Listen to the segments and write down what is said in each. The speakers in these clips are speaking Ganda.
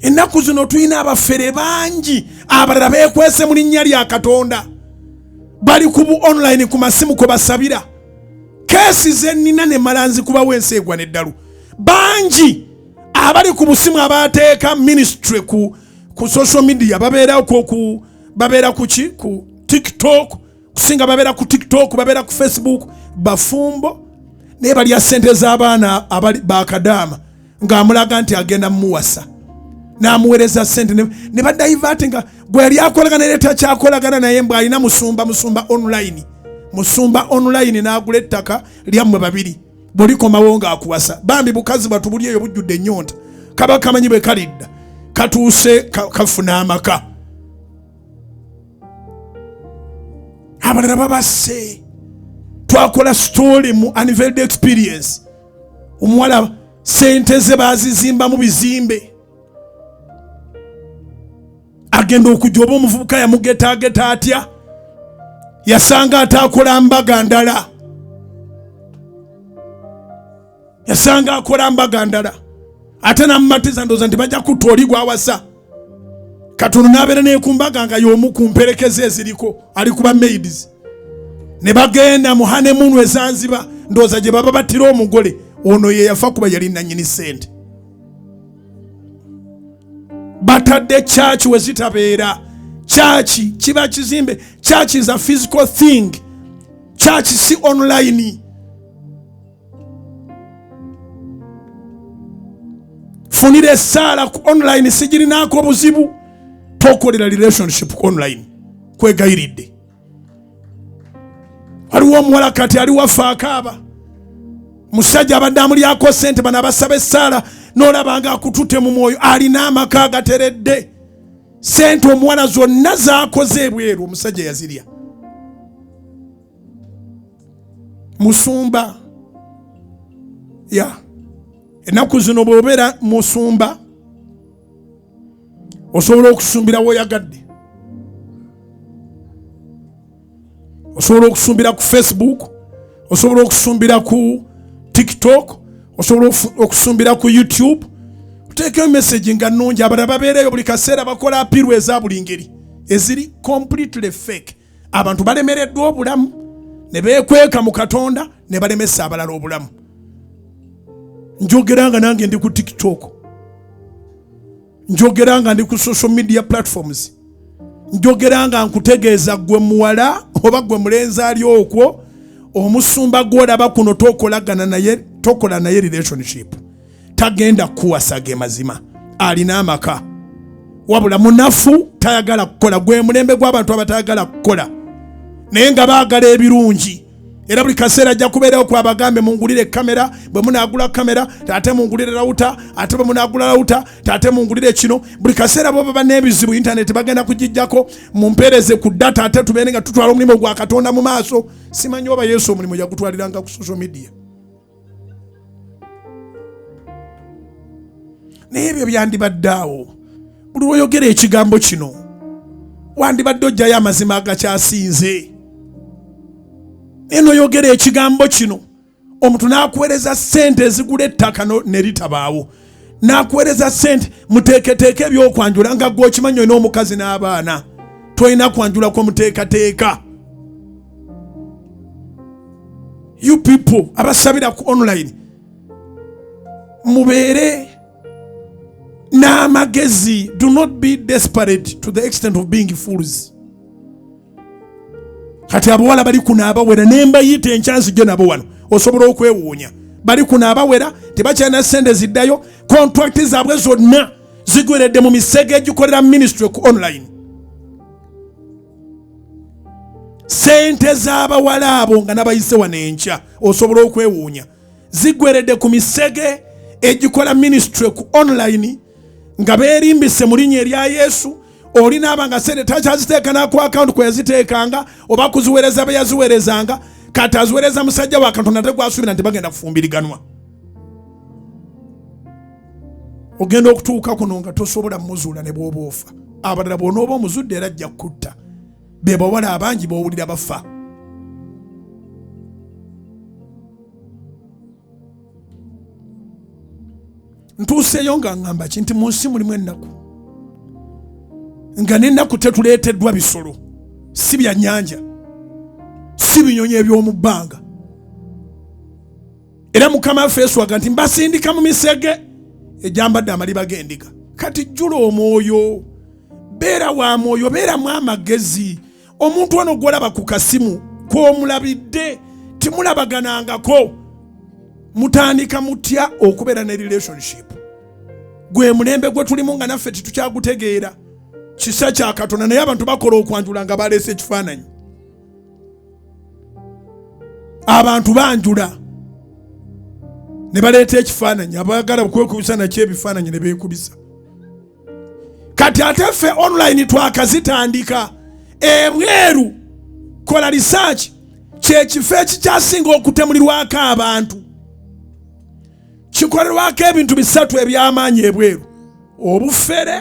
ennaku zino tulina abafere bangi abalala beekwese mu linnya lya katonda bali ku bu online ku masimu kwe basabira keesi ze nnina ne malanzi kubawo ensi egwa n'eddalu bangi abali ku busimu abateeka ministry ku, ku social media babeera ku babeera ku ki ku tiktok kusinga babeera ku tiktok babeera ku facebook bafumbo naye balya sente z'abaana bakadaama ng'amulaga nti agenda mumuwasa n'amuweereza sente ne badaivaati nga gwe yali akolagana era takyakolagana naye mbw alina musumba musumba online musumba online n'agula ettaka lyammwe babiri bwolikomawo ng'akuwasa bambi bukazi bwatu buli eyo bujjudde ennyonta kaba kamanyi bwe kalidda katuuse kafuna amaka abalala babase twakola story mu aniveld experience omuwala sente ze bazizimbamu bizimbe agenda okujja oba omuvubuka yamugetageta atya yasanga ataakola mbaga ndala yasanga akola mbaga ndala ate namumatiza ndooza nti bajja kutta oli gwawasa kati ono n'abeera nekumbaga nga y'omu ku mperekeze eziriko ali kuba maids ne bagenda mu hanemunu ezanziba ndowooza gye baba battira omugole ono ye yafa kuba yali nanyini sente batadde kyaki we zitabeera kyaki kiba kizimbe kyaki is a physical thing kyaki si online funira esaala ku online sigirinaako obuzibu tokolera relationship ku online kwegayiridde waliwo omuwala kati ali waffe akaaba musajja abadde amulyako sente bano abasaba esaala nolabanga akutute mu mwoyo alina amaka agateredde sente omuwala zonna zakoze ebweru omusajja yazirya musumba ya yeah. ennaku zino bwobeera musumba osobola okusumbira woyagadde osobola okusumbira ku facebook osobola okusumbira ku tiktok osobola okusumbira ku youtube oteekeo message nga nungi abala babeereyo buli kaseera bakola apirwa eza buli ngeri eziri completely fake abantu balemereddwa obulamu ne beekweka mu katonda ne balemesa abalala obulamu njogera nga nange ndi ku tiktok njogera nga ndi ku social media platforms njogera nga nkutegeeza gwe muwala oba gwe mulenzi ali okwo omusumba gwolaba kuno tokolagana naye tokola naye relationship tagenda kukuwasa ge mazima alina amaka wabula munafu tayagala kukola gwe mulembe gw'abantu abatayagala kukola naye nga baagala ebirungi era buli kaseera ajja kubeerawo ku abagambe mungulire kamera bwe munaagula kamera ate mungulire rawuta ate bwe munaagula rawuta ate mungulire kino buli kaseera bo baba n'ebizibu intaneti bagenda kugijjako mumpeereze ku data ate tubeere nga tutwala omulimu gwa katonda mu maaso simanyi oba yesu omulimu yagutwaliranga ku social media naye ebyo byandibadde awo buli lwoyogera ekigambo kino wandibadde ojjayo amazima agakyasinze naye noyogera ekigambo kino omuntu n'akuweereza ssente ezigula ettaka ne litabaawo nakuweereza sente muteeketeeka ebyokwanjula nga gwe okimanyi olina omukazi n'abaana tolina kwanjula kwa muteekateeka you people abasabira ku online mubeere n'amagezi do not be desperate to the extent of being fools kati abawala bali kuno abawera nembayita enkyanzijjo nabo wano osobola okwewuunya bali kuno abawera tebakyalina sente ziddayo kontrakiti zaabwe zonna zigweredde mu misege egikolera ministry ku online sente z'abawala abo nga nabayise wano enkya osobola okwewuunya zigweredde ku misege egikola ministry ku online nga beerimbise mu linnya erya yesu oli naaba nga sente takyaziteeka naku akawunti kweyaziteekanga oba kuziwereza beyaziwerezanga kati aziwereza musajja wa katonda ate gwasuubira nti bagenda kufumbiriganwa ogenda okutuuka kuno nga tosobola muzuula ne bwoba ofa abalala bwonooba omuzudde era ajja kukutta be bawala abangi bowulira bafa ntuuseeyo nga ngamba ki nti mu nsi mulimu ennaku nga n'ennaku tetuleeteddwa bisolo si bya nnyanja si binyonyi eby'omu bbanga era mukama waffe yesu aga nti mbasindika mu misege egyambadde amaliba g'endiga kati jjula omwoyo beera wa mwoyo beeramu amagezi omuntu ono gwolaba ku kasimu kwomulabidde timulabaganangako mutandika mutya okubeera ne relationship gwe mulembe gwe tulimu nga naffe titukyagutegeera kisa kya katonda naye abantu bakola okwanjula nga baleese ekifaananyi abantu banjula ne baleeta ekifaananyi abagala okwekubisa nakyo ebifaananyi ne beekubisa kati ate ffe online twakazitandika ebweru kola research kyekifo ekikyasinga okutemulirwako abantu kikolerwako ebintu bisatu ebyamaanyi ebweru obufere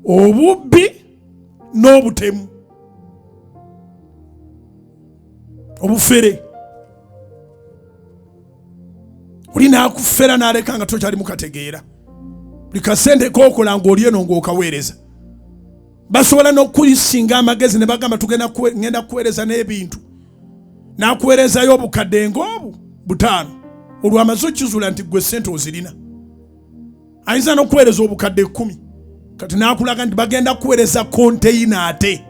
obubbi n'obutemu obufere oli n'akufera n'aleka nga tokyali mukategeera buli kasente kokola ng'oli eno ng'okaweereza basobola n'okuyisinga amagezi ne bagamba tugenda ngenda kuweereza n'ebintu n'akuweerezayo obukadde ng'obu butaano olwamaze okizuula nti gwe sente ozirina ayinza n'okuweereza obukadde ekkumi kati n'akulaga nti bagenda kuweereza konteyina ate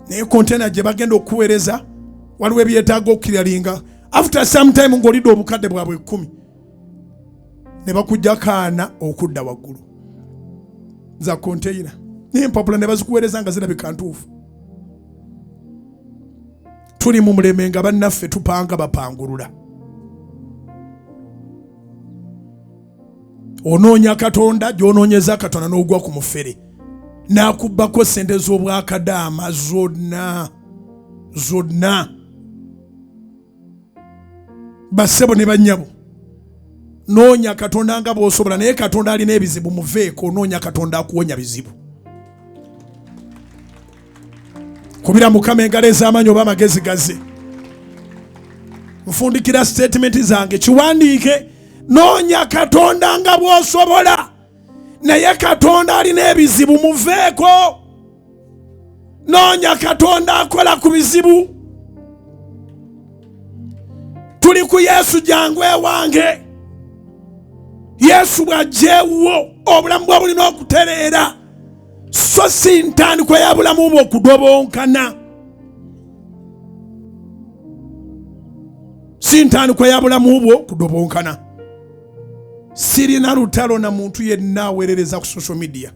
naye konteyina gye bagenda okuweereza waliwo ebyetaaga okukiralinga after some time ng'olidde obukadde bwabwe ekkumi ne bakujja kaana okudda waggulu za konteyina naye empapula ne bazikuweereza nga zirabika ntuufu tuli mu muleme nga bannaffe tupanga bapangulula onoonya katonda gy'onoonyeza katonda n'ogwa ku mufere n'akubbako ssente z'obwakadaama zonna zonna bassebo ne bannyabo noonya katonda nga bw'osobola naye katonda alina ebizibu muveeko onoonya katonda akuwonya bizibu kubira mukama engalo ez'amaanyi oba amagezi gaze nfundikira sitatimenti zange kiwandiike noonya katonda nga bw'osobola naye katonda alina ebizibu muveeko noonya katonda akola ku bizibu tuli ku yesu jangu ewange yesu bw'ajja ewuwo obulamu bwa bulina okutereera so si ntandikwa ya bulamu bwe okudobonkana si ntandikwa ya bulamu bwo kudobonkana sirina lutalo na muntu yenna aweerereza ku social media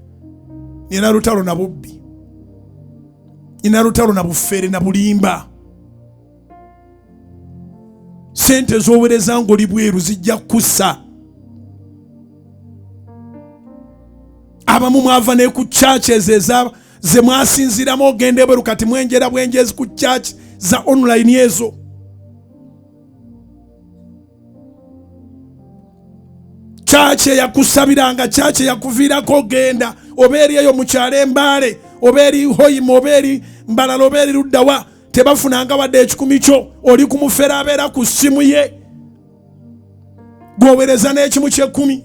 nina lutalo na bubbi nina lutalo na bufere na bulimba sente ezowereza ngaoli bweru zijja kukussa abamu mwava ne ku churches eza ze mwasinziramu ogenda ebweru kati mwenjera bwenjezi ku church za online ezo church eyakusabiranga church eyakuviirako ogenda oba eri eyo mukyalo embaale oba eri hoima oba eri mbalala oba eri luddawa tebafunanga wadde ekikumi kyo oli ku mufere abeera ku ssimu ye gwowereza n'ekimu kyekkumi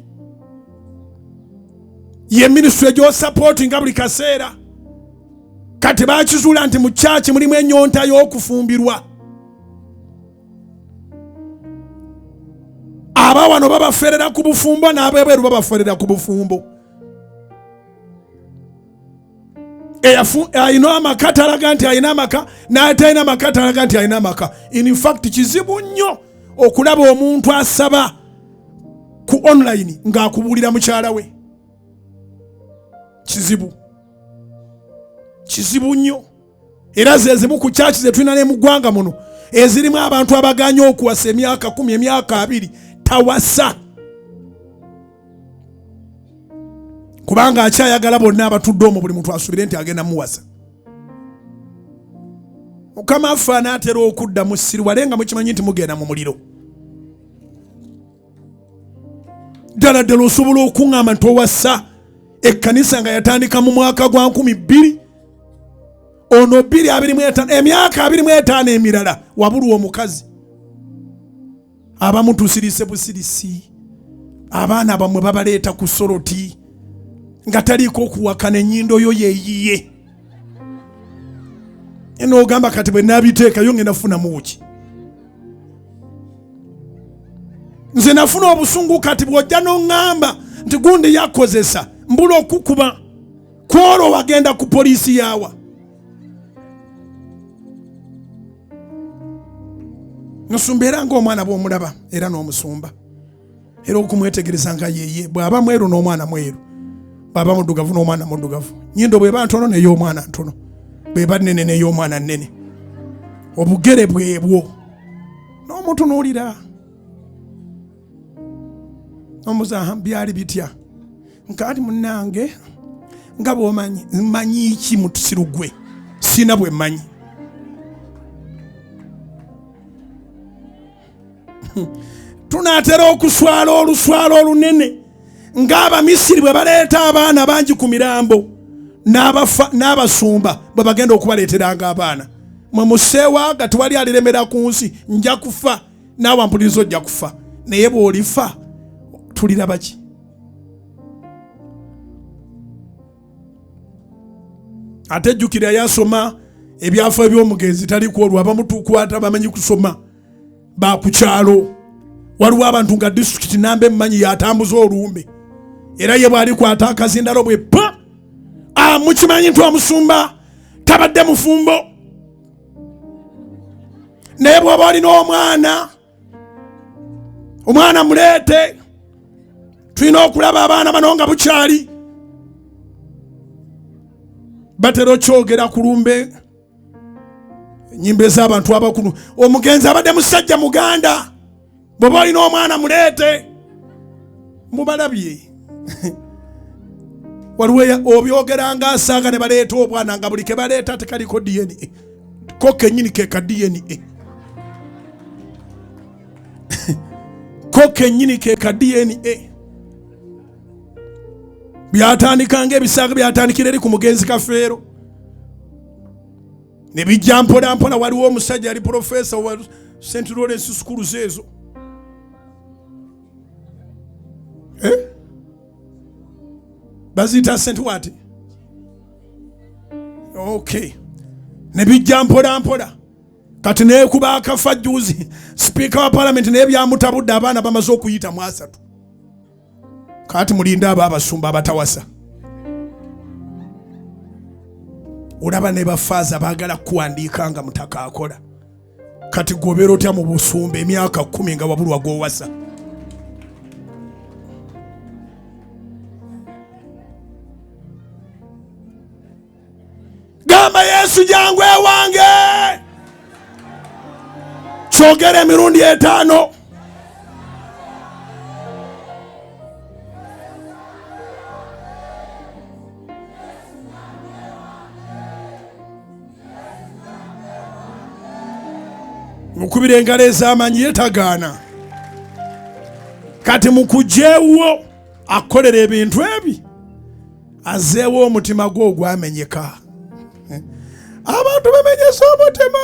ye minisitule gy'osapooti nga buli kaseera kati bakizuula nti mu kyaki mulimu enyonta y'okufumbirwa aba wano babaferera ku bufumbo n'abebweru babaferera ku bufumbo alina amaka talaga nti alina amaka n'atalina maka talaga nti alina amaka in fact kizibu nnyo okulaba omuntu asaba ku online ng'akubuulira mukyala we kizibu kizibu nnyo era zezimu ku kyaki zetulina ne mu ggwanga muno ezirimu abantu abaganye okuwasa emyaka kumi emyaka abiri tawasa kubanga akyayagala bonna abatudde omu buli muntu asubire nti agenda muwasa mukama affe anaatera okudda mu siriwale nga mukimanyi nti mugenda mu muliro ddala ddala osobola okuŋŋamba nti owassa ekkanisa nga yatandika mu mwaka gwa nkumi bbiri ono bbiri abiri mu etaano emyaka abiri mu etaano emirala wabulwa omukazi abamu tusirise busirisi abaana bamwe babaleeta ku soroti nga taliiko okuwakana ennyindo yo yeyiye nogamba kati bwe nabiteekayo ngenda kufunamu ki nze nafuna obusungu kati bwojja noŋŋamba nti gundi yakozesa mbula okukuba kwolwo wagenda ku poliisi yaawa nsumba era ngaomwana bwomulaba era n'omusumba era okumwetegereza nga yeye bw'aba mweru n'omwana mweru bw'aba muddugavu n'omwana muddugavu nyindo bw'eba ntono ney'omwana ntono bw'eba nnene ney'omwana nnene obugere bwebwo n'omutunuulira omuzaha byali bitya nkati munange nga bwomanyi manyi ki mutusiru gwe sina bwe manyi tunaatera okuswala oluswala olunene ng'abamisiri bwe baleeta abaana bangi ku mirambo n'abasumba bwe bagenda okubaleeteranga abaana mwe museewa nga tewali aliremera ku nsi nja kufa naawe ampuliriza ojja kufa naye bw'olifa tuliraba ki ate jjukira yasoma ebyafa ebyomugenzi taliku olwo abamutukwata bamanyi kusoma bakukyalo waliwo abantu nga disitulikiti namba emmanyi yatambuza olumbe era ye bwalikwata akazindalo bwe pa ah, mukimanyi nti omusumba tabadde mufumbo naye bwaba olina omwana omwana muleete tulina okulaba abaana bano nga bukyali batera okyogera ku lumbe enyimba ez'abantu abakulu omugenzi abadde musajja muganda bweba olina omwana muleete mubalabye waliwo obyogeranga asanga ne baleeta obwana nga buli ke baleeta tekaliko dna ko kenyini ke ka dna ko kenyini ke ka dna byatandika nga ebisaaga byatandikira eri ku mugenzi kafeero ne bijja mpola mpola waliwo omusajja yali profesa wa st lawrence sukulu zeezo eh? baziyita st wati okay ne bijja mpola mpola kati nekuba akafa juzi sipiika wa palamenti naye byamutabudde abaana bamaze okuyita mu asatu kati mulinde abo abasumba abatawasa olaba ne bafaaza baagala kuwandiika nga mutaka akola kati gobera otya mu busumba emyaka kumi nga wabulwa gwowasa gamba yesu jangu ewange kyogera emirundi etaano mukubira engalo ez'amanyi yetagaana kati mukujewo akolera ebintu ebi azeewo omutima gwe ogwamenyeka abantu bamenyesa omutima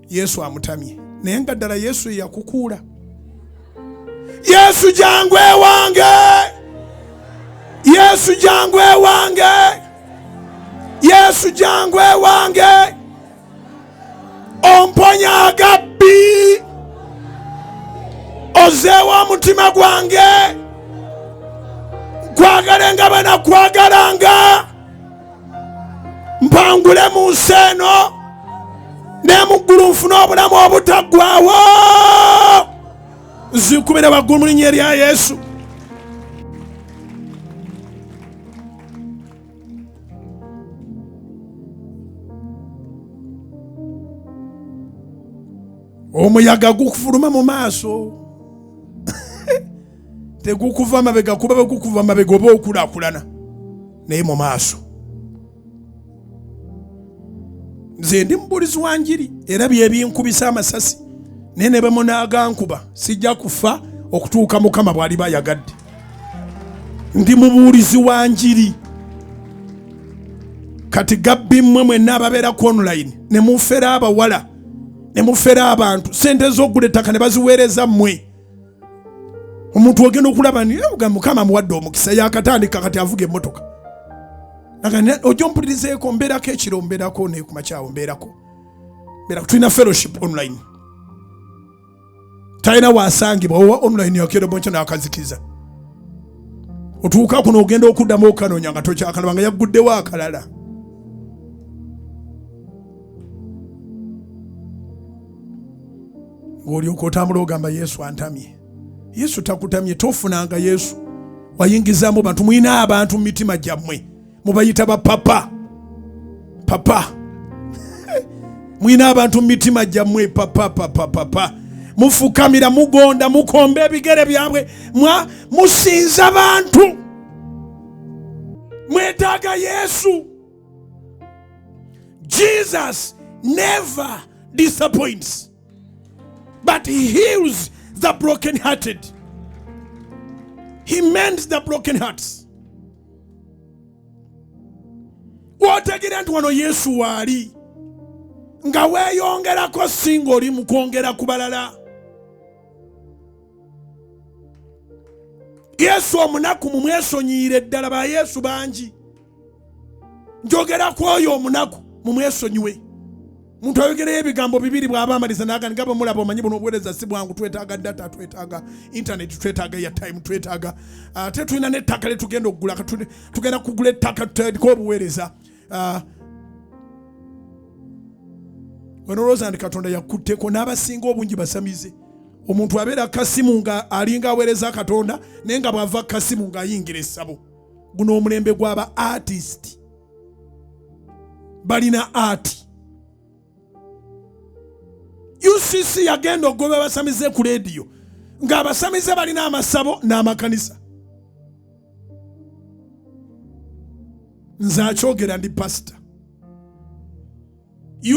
yesu amutamye naye nga ddala yesu eyakukuula yesu jangu ewange yesu jangu ewange yesu jangu ewange omponya agabbi ozeewo omutima gwange kwagale nga banakwagala nga mpangule mu nsi eno ne mu ggulu nfune obulamu obutaggwawo nzikubire waggulu mu linnya erya yesu omuyaga gukufuluma mu maaso tegukuva mabega kuba bwegukuva mabega oba okulakulana naye mu maaso nze ndi mubulizi wa njiri era byebinkubisa amasasi naye ne bemunaagankuba sijja kufa okutuuka mukama bwali bayagadde ndi mubuulizi wa njiri kati gabbi mmwe mwenna ababeera ku online ne mufera abawala ne mufera abantu sente z'okugula ettaka ne baziweereza mmwe omuntu ogenda okulaba nga mukama muwadde omukisa yakatandika kati avuga emotoka ojo mpulirizeeko mbeerako ekiro mbeerako nekumakyawo mbeerako mbeerako tulina fellowship online talina wasangibwa owa online yakerobonkyo nakazikiza otuuka kuno ogenda okuddamu okukanonya nga tokyakalaba nga yagguddewo akalala ng'olyoka otambula ogamba yesu antamye yesu takutamye tofunanga yesu wayingizamu bantu mulina abantu mu mitima gyammwe mubayita bapapa papa mulina abantu mu mitima gyammwe papa papa papa mufukamira mugonda mukomba ebigere byabwe musinza bantu mwetaaga yesu Jesus never disappoints, but he heals the brokenhearted. He mends the broken hearts. Wotegeera nti wano Yesu waali nga weeyongerako si ng'oli mu kwongera ku balala. Yesu omunaku mumwesonyiyire ddala ba Yesu bangi. njogera ku oyo omunaku mumwesonyiwe muntu ayogereyo ebigambo bibiri bwaba amaliza nagani nga bwemulaba omanyi buno obuwereza si bwangu twetaaga data twetaaga intaneti twetaaga eyatime twetaaga ah, ate tulina nettaka lyetugenda okugula tugenda kugula ettaka tutandika obuweereza ah, wenolowooza nti katonda yakutteko n'abasinga obungi basamize omuntu abeera kasimu nga alinga aweereza katonda naye nga bwava kasimu ng'ayingira essabo guno omulembe gwaba artist balina art ucc yagenda okugoba abasamize ku leediyo ng'abasamize balina amasabo n'amakanisa nze akyogera ndi pasita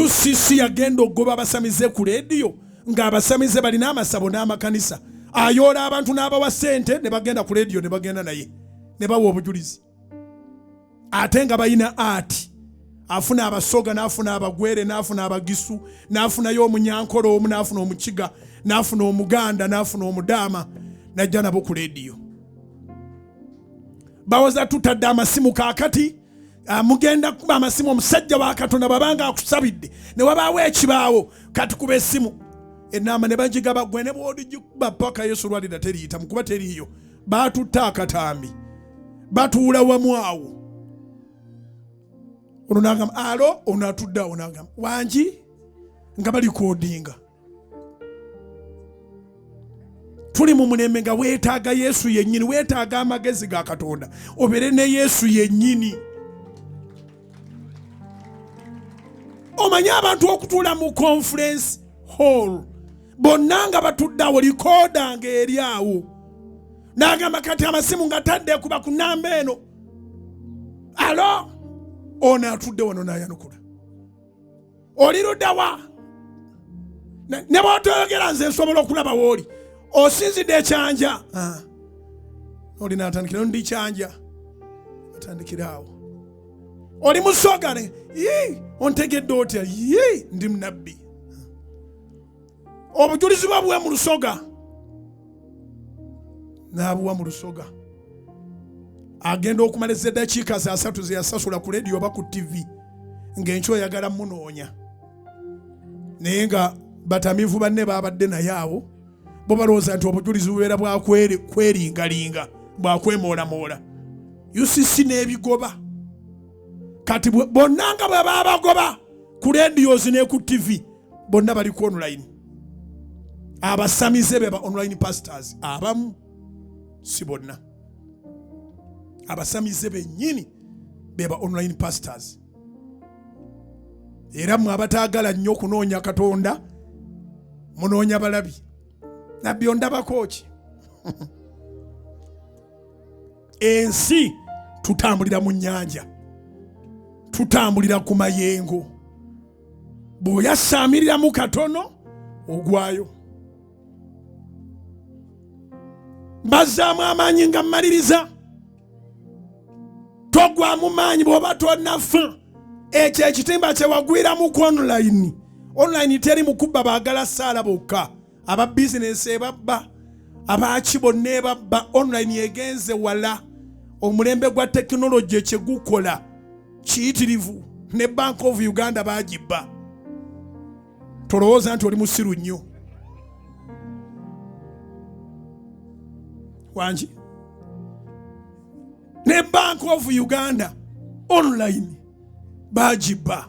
ucc yagenda okugoba abasamize ku leediyo ng'abasamize balina amasabo n'amakanisa ayoola abantu n'abawa sente ne bagenda ku leediyo ne bagenda naye ne bawa obujulizi ate nga balina ati afuna abasoga n'afuna abagwere n'afuna abagisu n'afunayo omunyankole omu n'afuna omukiga n'afuna omuganda n'afuna omudaama najja nabo ku leediyo bawoza tutadde amasimu kakati Ah, mugenda kukuba amasimu omusajja wa katonda bwaba nga akusabidde ne wabaawo ekibaawo katukube esimu enaama ne bagigaba gwe ne bwodigikuba paka yesu lwalira teriyita mukuba teriiyo baatutta akatambi batuula wamu awo ono nagamba alo ono atudde awo nagamba wangi nga balikodinga tuli mu mulembe nga weetaaga yesu yennyini weetaaga amagezi ga katonda obeere ne yesu yennyini omanyi abantu okutuula mu conference hall bonna nga batuddeawo likooda nga eri awo n'agamba kati amasimu nga tadde kuba ku namba eno alo ono atudde wano n'ayanukula oli ludawa ne bwotoyogera nze nsobola okulaba wooli osinzidde ekyanja ah. oli natandikira ndi kyanja atandikiraawo oli musogane ontegedde otya ndi munabbi obujulizi bwe buwe mu lusoga n'abuwa mu lusoga agenda okumala ez'eddakiika za satu ze yasasula ku lediyo oba ku ttivi ng'enky oyagala munoonya naye nga batamiivu banne baabadde naye awo bo balowooza nti obujulizi bubeera bwakweringalinga bwakwemoolamola ucc n'ebigoba kati bonna nga bwe babagoba ku lediyozi ne ku ttivi bonna bali ku online abasamize beba online pastors abamu si bonna abasamize bennyini beba online pastors era mwe abataagala nnyo okunoonya katonda munoonya balabi nabbi ondabako ki ensi tutambulira mu nnyanja tutambulira ku mayengo bw'oyasaamiriramu katono ogwayo mbazzaamu amaanyi nga mmaliriza togwamu maanyi bw'oba tonafa ekyo ekitimba kyewagwiramu ku online online teri mukubba baagala saala bokka aba bizinensi ebabba abaaki bonna ebabba online egenze wala omulembe gwa tekinologi ekyegukola kiyitirivu ne bank of uganda bagibba tolowooza nti oli musiru nnyo wangi ne bank of uganda online bagibba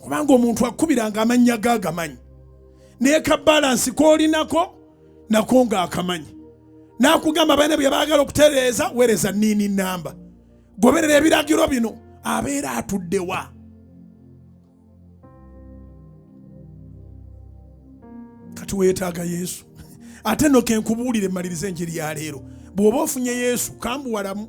kubanga omuntu akubiranga amannya ge agamanyi naye ka balansi koolinako nako nga akamanyi nakugamba baina bye bagala okutereeza wereza niini namba goberera ebiragiro bino abeera atuddewa kati weetaaga yesu ate no kenkubuulire maliriza enjiri ya leero bw'oba ofunye yesu kambuwalamu